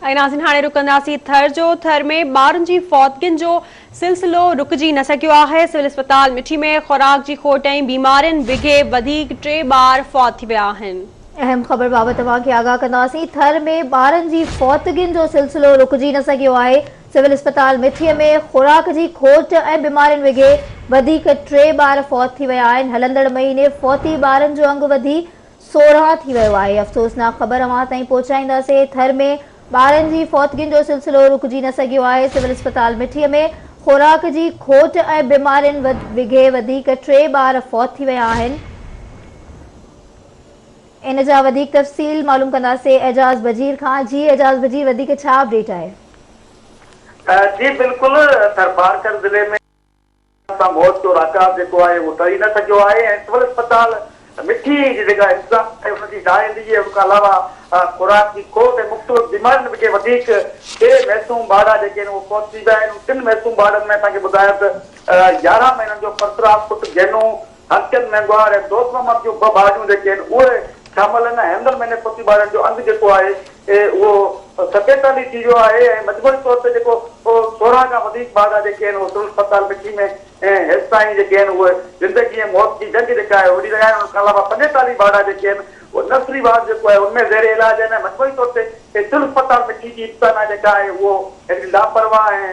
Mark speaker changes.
Speaker 1: ۽ ناظرين هاڻي رڪنداسين ٿر جو ٿر ۾ ٻارن جي فوتگين جو سلسلو رڪجي نه سگهيو آهي سول اسپتال مٺي ۾ خوراڪ جي کوٽ ۽ بيمارين بگهي وڌيڪ ٽي ٻار فوت ٿي ويا آهن. اهم خبر بابت
Speaker 2: اوهان کي آگاهه ڪنداسين ٿر ۾ ٻارن جي فوتگين جو سلسلو رڪجي نه سگهيو آهي سول اسپتال مٺي ۾ خوراڪ جي کوٽ ۽ بيمارين بگهي وڌيڪ ٽي ٻار فوت ٿي ويا آهن هلندڙ مهيني فوتي ٻارن جو انگ وڌي سورهاء ٿي ويو آهي افسوسناڪ خبر اوهان تائين پهچائينداسي ٿر ۾ ٻارن جي فوتگين جو سلسلو رڪجي نه سگهيو آهي سول اسپتال مٺي ۾ خوراڪ جي کوٽ ۽ بيمارين وگهي وڌيڪ ٽي ٻار فوت ٿي ويا آهن ان جا وڌيڪ تفصيل معلوم ڪنداسي اعجاز بجير کان جي اعجاز بجير وڌيڪ ڇا اپڊيٽ آهي.
Speaker 3: جي بلڪل ٿرپارڪر ضلعي ۾. اسان موت جو راڪاب جيڪو آهي اهو ٽري نه سگهيو آهي ۽ سول اسپتال مٺي جي جيڪا انتظام آهي ان جي نااهلي ۽ ان کان علاوه خوراڪ جي کوٽ ۽ مختلف بيمارين کي وڌيڪ ٽي معصوم ٻارڙا جيڪي آهن اهي فوت ٿي ويا آهن ان ٽن معصوم ٻارڙن ۾ اسان کي ٻڌايو ته يارهن مهينن جو پرسرام پٽ گينو هستين ۾ ڳوهار ۽ دوست محمد جون ٻه ڀاڄون جيڪي آهن اهي شامل آهن ۽ هيندل مهيني پوتي ٻارڻ جو انگ جيڪو آهي اهو ستيتاليهه ٿي ويو آهي ۽ مجموعي طور تي جيڪو سورهن کان وڌيڪ ٻارڙا جيڪي آهن اهي سول اسپتال مٺي ۾ هيستائين جيڪي آهن اهي زندگي ۽ موت جي جنگ جيڪا آهي وڙهي رهيا آهن ان کان علاوه پنجيتاليهه ٻارڙا جيڪي آهن اهي نرسري وارڊ جيڪو آهي ان ۾ زير علاج آهن ۽ مجموعي طور تي سول اسپتال مٺي جي انتظاميا جيڪا آهي اهو هڪڙي لاپرواهه ۽